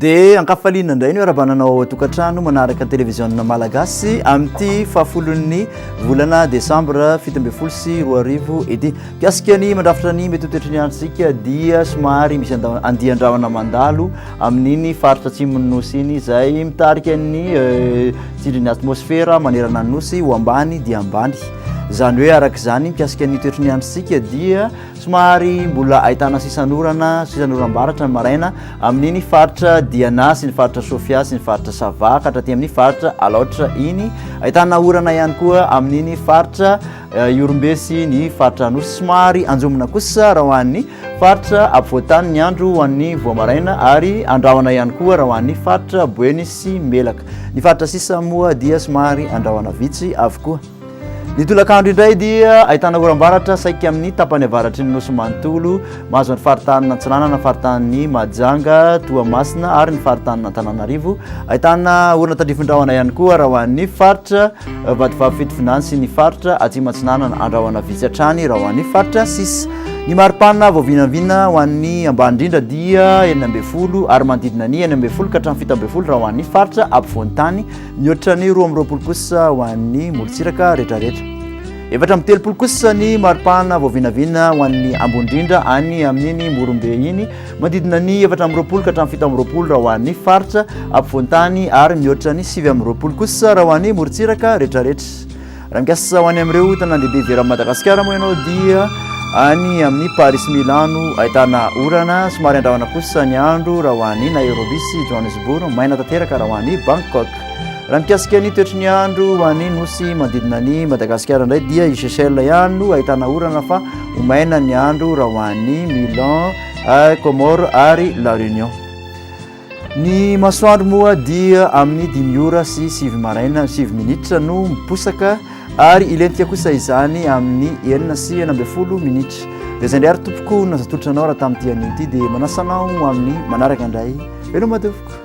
dia ankafaliana indray ny arabanana ao atokantrano manaraka ny televiziona malagasy amin'ity fahafolon'ny volana desambra fito ambin'ny folo sy roa arivo ity mpiasika ny mandrafitra ny mety ho toetry ny andro isika dia somary misy andian-drahona mandalo amin'iny faritra atsimon'ny nosy iny izay mitarika ny eh, tsindrin'ny atmosfera manerana ny nosy ho ambany dia ambany izany hoe araka izany mikasika ny toetry ny androntsika dia somary mbola ahitana sisanorana sisanoram-baratra ny maraina amin'iny faritra diana sy ny faritra sofia sy ny faritra sava ka hatraty amin'ny faritra alaotra iny ahitana orana ihany koa amin'iny faritra Ihorombe sy ny faritra Anosy. Somary anjomona kosa raha ho an'ny faritra afovoan-tany ny andro ho an'ny voamaraina ary andrahona ihany koa raha ho an'ny faritra Boeny sy Melaka. Ny faritra sisa moa dia somary andrahona vitsy avokoa. Ny tolakandro indray dia ahitana oram-baratra saika amin'ny tapany avaratry ny nosy manontolo mahazo ny faritanin' Antsinanana, faritanin'i Mahajanga, Toamasina ary ny faritanin' Antananarivo. Ahitana orana tandrifin-drahona ihany koa raha ho an'ny faritra Vatovavy Fitovinany sy ny faritra Atsimo Atsinanana andrahona vitsy hatrany raha ho an'ny faritra sis. Ny mari-panina vao vinavina ho an'ny ambany indrindra dia enina ambin'ny folo ary manodidina ny enina ambin'ny folo ka hatramin'ny fito ambin'ny folo raha ho an'ny faritra apovoan-tany, mihoatra ny roa amby roapolo kosa ho an'ny morontsiraka rehetrarehetra. Efatra amby telopolo kosa ny mari-panina vao vinavina ho an'ny ambony indrindra any amin'iny Morombe iny. Manodidina ny efatra amby roapolo ka hatramin'ny fito amby roapolo raha ho an'ny faritra ampovoan-tany ary mihoatra ny sivy amby roapolo kosa raha ho an'ny morontsiraka rehetrarehetra. Raha mikasa ho any amin'ireo tanàn-dehibe ivelan'i Madagasikara moa ianao dia any amin'ny Paris sy Milano ahitana orana somary andrahona kosa ny andro raha ho an'i Nairobi sy Johannesburg, maina tanteraka raha ho an'i Bangkok. Raha mikasika ny toetry ny andro ho an'ny nosy manodidina an'i Madagasikara indray dia i Seychelles ihany no ahitana orana fa Ho maina ny andro raha ho any Milan, Comores ary La Réunion. Ny masoandro moa dia amin'ny dimy ora sy sivy maraina sivy minitra no miposaka ary hilentika kosa izany amin'ny enina sy enina ambin'ny folo minitra. Dia izay indray ary tompoko no naza tolotra anao raha tamin'ity anio ity dia manasa anao amin'ny manaraka indray. Veloma devoko.